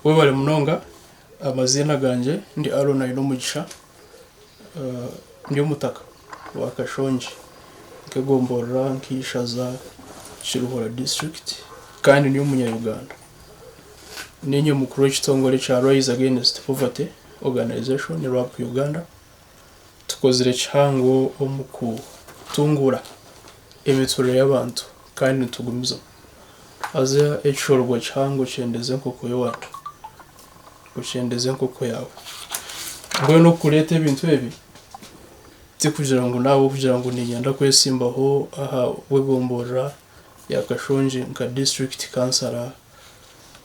Webale munonga amaziina gangye ndi Aron Ainomugisha ndi omutaka wa Kashongi nkegomborora nkeishaza Kiruhura district kandi ndi omunya Uganda ninye mukuru wekitongore kya Rise against poverty organization Rwap Uganda. Tukozire kihango omu kutunguura emiturire y'abantu kandi nitugumiza haza ekishorogo kihango okyendeze enkoko y'owaawe. Okyendeze enkoko yaawe. Mbwenu okureeta ebintu ebi tikugira ngu n'ahabw'okugira ngu niinyenda kwetsimbaho ahabw'egomborora ya Kashongi nka disiturikiti kansara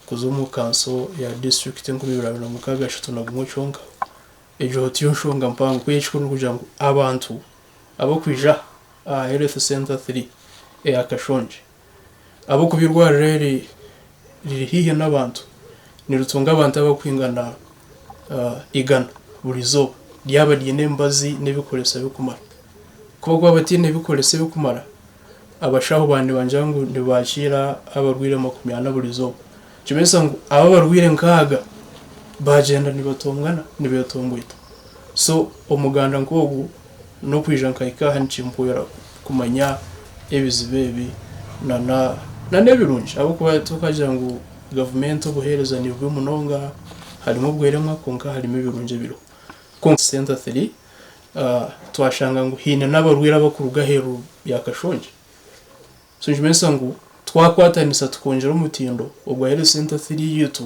kuza omu kanso ya disiturikiti enkumi ibiri abiri na mukaaga ashatu na gumwe kyonka. Egyo tiyo nshonga mpango. Ku ekikuru nikugira ngu abantu ab'okwija aha Health Centre Three eya Kashongi, ahabw'okuba eirwariro eri riri haihi n'abantu, niritunga abantu abarikwingana igana buri izooba, ryaba riine emibazi n'ebikoreso birikumara. Ku barikuba bataine bikoreso ebirikumara, abashaho baaba nibagira ngu nibaakiira abarwaire makumi ana buri izooba. Nikibaasa ngu abo abarwaire nkaaga baagyenda nibatongana, nibeetomboita. So omuganda nk'ogwo n'okwija nkahika aha nikimpwera kumanya ebizibu ebi n'ebirungi ahabw'okuba titwakagira ngu gavumenti obuheereza ni bubi munonga, harimu obweremwa kwonka harimu ebirungi ebiriho. Kwonka senta tiri, twashanga ngu haine n'abarwaire abarikuruga aheeru ya Kashongye. So nikimanyiisa ngu twakwatanisa tukongyera omutindo ogwa Health Centre Three yaitu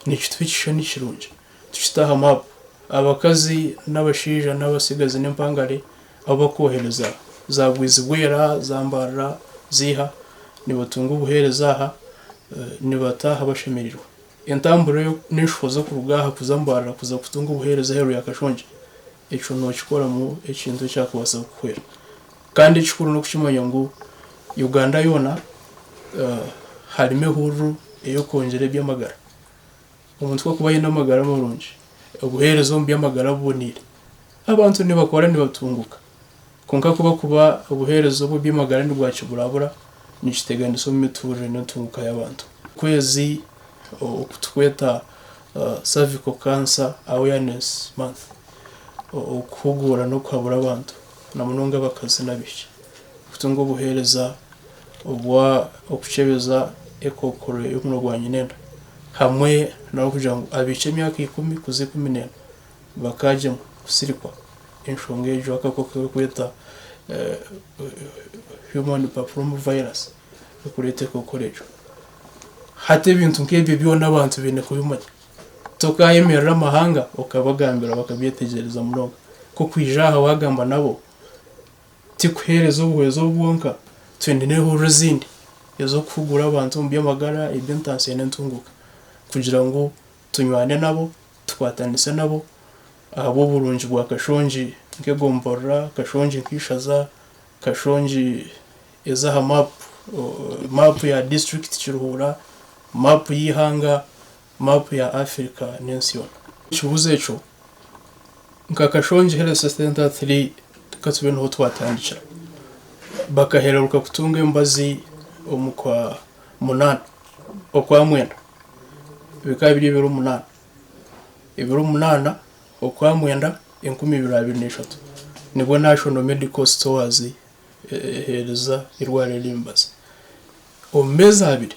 nikituha ekishushani kirungi tukite aha map abakazi n'abashaija n'abatsigazi n'empangare abu bakohereza za Bwizibwera, za Mbarara, ziiha nibatunga obuheereza aha nibataaha bashemerirwe. Entambura eyo n'enshuho z'okuruga aha kuza Mbarara kuza kutunga obuheereza aheeru ya Kashongye ekyo nookikoramu ekintu ekyakubaasa kukuhwera Kandi ekikuru n'okukimanya ngu Uganda yoona harimu ehururu ey'okwongyera eby'amagara. Omuntu ku arikuba aine amagara marungi, obuheereza omu by'amagara buboneire, abantu nibakora nibatunguka. Kwonka ku barikuba obuheereza omu by'amagara nibwakiburabura, nikiteganisa omu miturire n'entunguka y'abantu. Okwezi oku turikweta Cervical Cancer Awareness Month, okuhuguura n'okuhabura abantu na munonga abakazi n'abaishiki, kutunga obuheereza obw'okukyebeza ekookoro y'omurimo gwa nyinenda, hamwe n'abarikugira ngu abaishiki emyaka ikumi kuza ikumi n'ena bakagyemwa kusirikwa enshonga egyo y'akakooko aku barikweta Human Papilloma Virus erikureeta ekookoro egyo. Hati ebintu nk'ebyo byona abantu baine kubimanya. Tokaayemerera amahanga okabagambira bakabyetegyereza munonga. Ku kwija aha waagamba nabo ti kuheereza obuhwezi obu bwonka. Twine n'ehurira ezindi ez'okuhugura abantu omu by'amagara, eby'entaasya n'entunguka kugira ngu tunywane nabo, tukwatanise nabo ahabw'oburungi bwa Kashongi nk'egomborora, Kashongi nk'eishaza, Kashongi Eza aha maapu, Maapu ya Disiturikiti Kiruhura, Maapu y'eihanga, Maapu ya Afirika n'ensi yoona. Ekibuuzo ekyo nka Kashongi Health Centre Three ka tube niho twatandikira. Bakahereruka kutunga emibazi omu kwa munaana, okwa mwenda bikaba biri ebiro munaana. Ebiro munaana okwa mwenda enkumi ibiri abiri n'eshatu nibwo National Medical Stores eheereza eirwariro ry'emibazi. Omu meezi abiri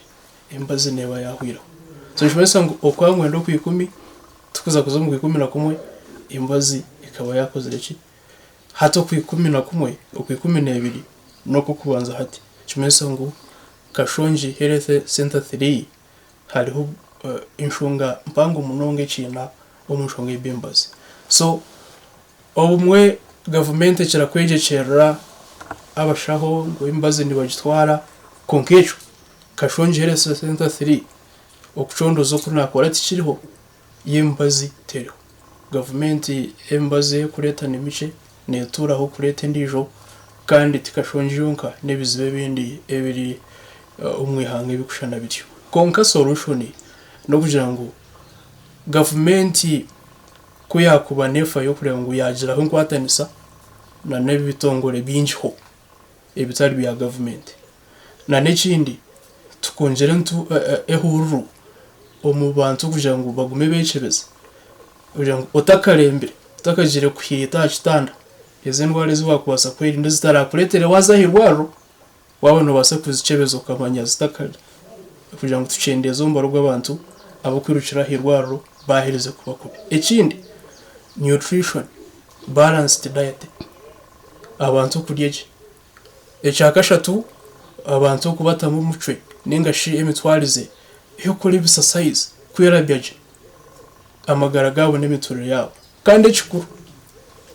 emibazi neeba yaahweraho. So nikimanyisa ngu oku aangwenda okwa ikumi, tikuza kuza omu kwa ikumi na kumwe emibazi ekaba yaakozire ki? Hati okwa ikumi na kumwe, okwa ikumi n'ebiri n'okw'okubanza hati. Nikimanyisa ngu kashongi healthy center three. Hariho enshonga mpango munonga ekiina omu nshonga ya Bembazi. So obumwe gavumenti ekira kwegyekyerera abashaho ngu emibazi nibagitwara kwonka ekyo kashongiire sente three okucondoza oku nakora tikiriho. y'emibazi teriho. Gavumenti emibazi ei erikureeta ni mikye, neetuuraho kureeta endiijo kandi ti kashongi yonka n'ebizibu ebindi ebiri omu ihanga ebirikushushana bityo. Kwonka solushoni n'okugira ngu gavumenti ku yaakuba neefayo kureeba ngu yaagiraho enkwatanisa n'ebitongore bingiho. ebitari bya gavumenti nana ekindi tukongire ntu ehururu omu bantu kugira ngu bagume bekyebeza kugira ngu otakarembire otakagire kuhiita aha kitanda ezi endwara ezi wakubaasa kwerinda ezitarakuretere waza aha irwariro waba nobaasa kuzikyebeza okamanya zitakari kugira ngu tukyendeeze omubare gw'abantu abakwirukira aha irwariro baherize kuba kubi ekindi nutrition balanced diet. abantu okurya gye. Ekya kashatu abantu okubatamu omucwe ninga shi emitwarize ey'okukora ebisasayizi kwerabya gye amagara gaabo n'emiturire yaabo. Kandi ekikuru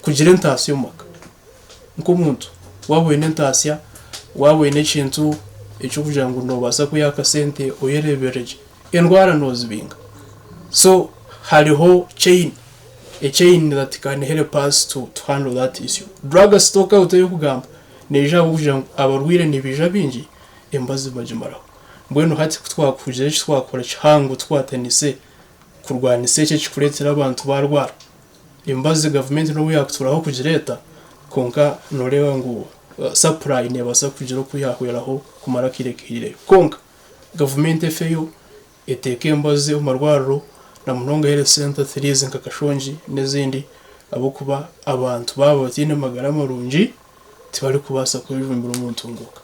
kugira entaasya omu maka nk'omuntu waaba oine entaasya, waaba oine ekintu eky'okugira ngu nobaasa kweha akasente oyerebire gye. Endwara nozibinga so hariho chain a chain that can help us to to handle that issue. Drug stock out eyokugamba neija ahabwokugira ngu abarwaire nibaija baingi emibazi bagimaraho mbwenu hati kutwakugira eki twakora kihango tukwatanise kurwanisa eki ekikuretera abantu barwara emibazi gavumenti nobu yakuturaho kugireeta kwonka noreeba ngu supply nebasa kugira oku yahweraho kumara akaire kahaireyo kwonka gavumenti efeyo eteeke embazi omu marwariro na munonga health centres ziri ezi nka Kashongi n'ezindi ahabw'okuba abantu baaba bataine magara marungi tibarikubaasa kwejumbira omu ntunguuka.